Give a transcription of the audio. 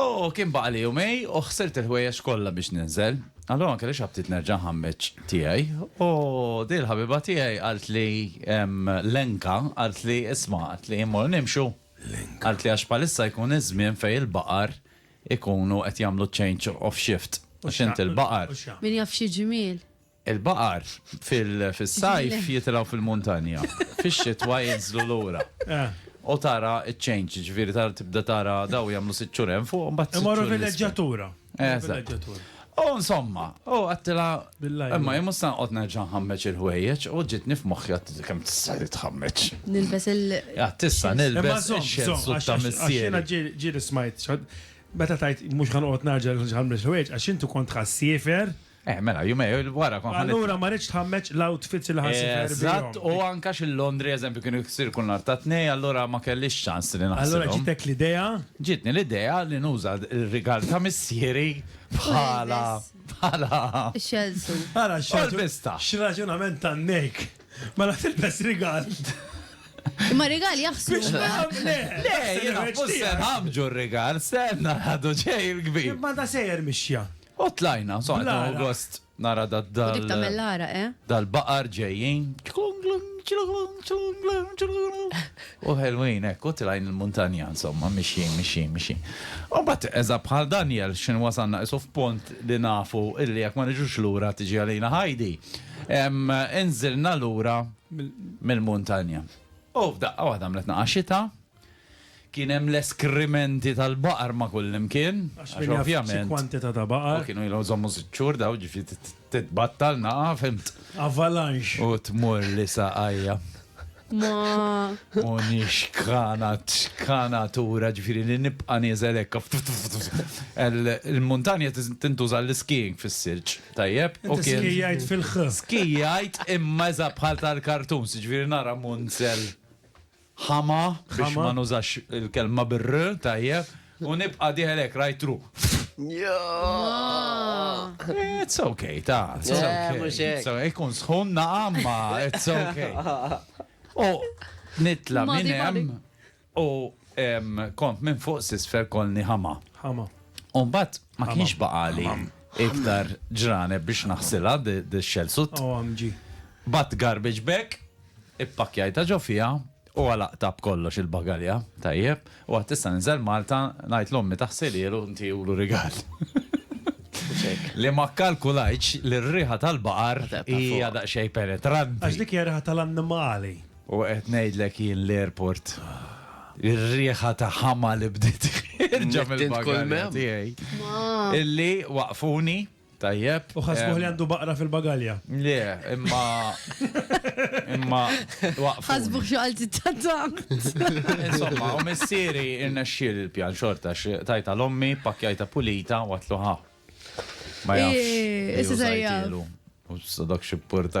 U kien baqali jumej u ħsirt il-ħwejjeġ kollha biex ninżel. Allura ma kellix aptit nerġa' nħammeġ tiegħi. U din il-ħabiba tiegħi qaltli, Lenka, qaltli, isma', qaltli, immorru nimxu? Lenka. Qaltli għax bħalissa jkun iż-żmien fejn il-baqar ikunu qed jagħmlu ċ-change of shift. Għax int il-baqar. Min jaf xi ġmiel. Il-baqar fis-sajf jitilgħu fil-muntanja, fix-xitwa jinżlu lura. U tara ċ-change, jiġifieri tara tibda tara dawn jagħmlu sitt xhur hemm fuq u mbagħad sitt xhur. Imorru vileġġatura. Eżatt. U insomma, u għidtilha, imma jien mhux se noqgħod nerġa' nħammeġ il-ħwejjeġ u ġietni f'moħħi għad kemm tista' li tħammeġ. Nilbes il. Għad tista' nilbes ix-xellsuit ta' missieri. Imma żomm, żomm, ġieli smajt, meta tgħid mhux ħa noqgħod nerġa' nħammeġ il-ħwejjeġ għax int kont ħassiefer. Eh, mela, jumej, wara kon ħanet. Allura ma rridx tħammeġ l-outfits li ħassi ferbi. Eżatt, u anka xil-Londri, eżempju, kienu jiksir kull nar ta' tnej, allura ma kellix ċans li naħseb. Allura ġitek l-idea? Ġitni l-idea li nuża r-rigal ta' missieri bħala. bħala. Xelsu. Ara, xelsu. X'raġunament ta' nejk. Ma la tilbes rigal. Ma rigal jaħslu. Le, jena, fussen ħamġu rigal, senna ħadu ġej il-kbir. Ma da sejjer mixja. U tlajna, so għadna Blara. gost nara da U dal. dik tagħmel l-ara, eh? Dal-baqar ġejjin. U ħelwin, ekk, u tlajn il-muntanja, insomma, mixjin, mixjin, mixjin. U bat, eża bħal Daniel, xin wasanna isu f'pont li nafu illi jekk ma niġux lura tiġi għalina ħajdi. Em, Inżilna lura mill-muntanja. U f'daqqa waħda għamlet naqa xita, Kien hemm l-eskrimenti tal-baqar ma' kullimkien, għax ovvjament. Kwantità ta' baqar. U kienu ilhom żommu sitt xhur dawn, ġifieri titbattal naqa', fhimt? Avalanche. U tmur li saqajja. Ma. U nixkana, xkana tura, ġifieri li nibqa' nieżel hekk. Il-muntanja tintuża l-skiing fis-silġ, tajjeb? Skijajt fil-ħ. Skijajt imma eżatt bħal tal-kartuns, ġifieri nara munzel. ħama, biex ma nużax il-kelma bir-r, tajjeb, u nibqa' dieħel hekk right through. It's okay, ta. Ikun sħun naqam ma, it's okay. U nitla minn hemm u kont minn fuq sisfer kolni ħama. Ħama. Umbat ma kienx baqali iktar ġrane biex naħsila d-xelsu. Bat garbage bag Ippakkjajtha ġo fiha u għalaqtha b'kollox il-bagalja, tajjeb, u għad tista' ninżel Malta ngħid l-ommi taħsilielu u ntiehulu rigal. Li ma kkalkulajtx li r-riħa tal-baqar hija daqsxejn penetranti. Għax dik hija riħa tal-annimali. U qed ngħidlek jien l-airport, ir-riħa ta' ħama li bdiet ħierġa mill-bagalja tiegħi. Illi waqfuni. Tajjeb. U ħasbuh li għandu baqra fil-bagalja. Le, imma. Imma. Ħasbuh xi qalti tatant. Insomma, u missieri irnexxiel il-pjan xorta tajta l-ommi, pakjajta pulita u għatlu ħa. Ma jafx. Issa sajjal. U s-sadok xipporta.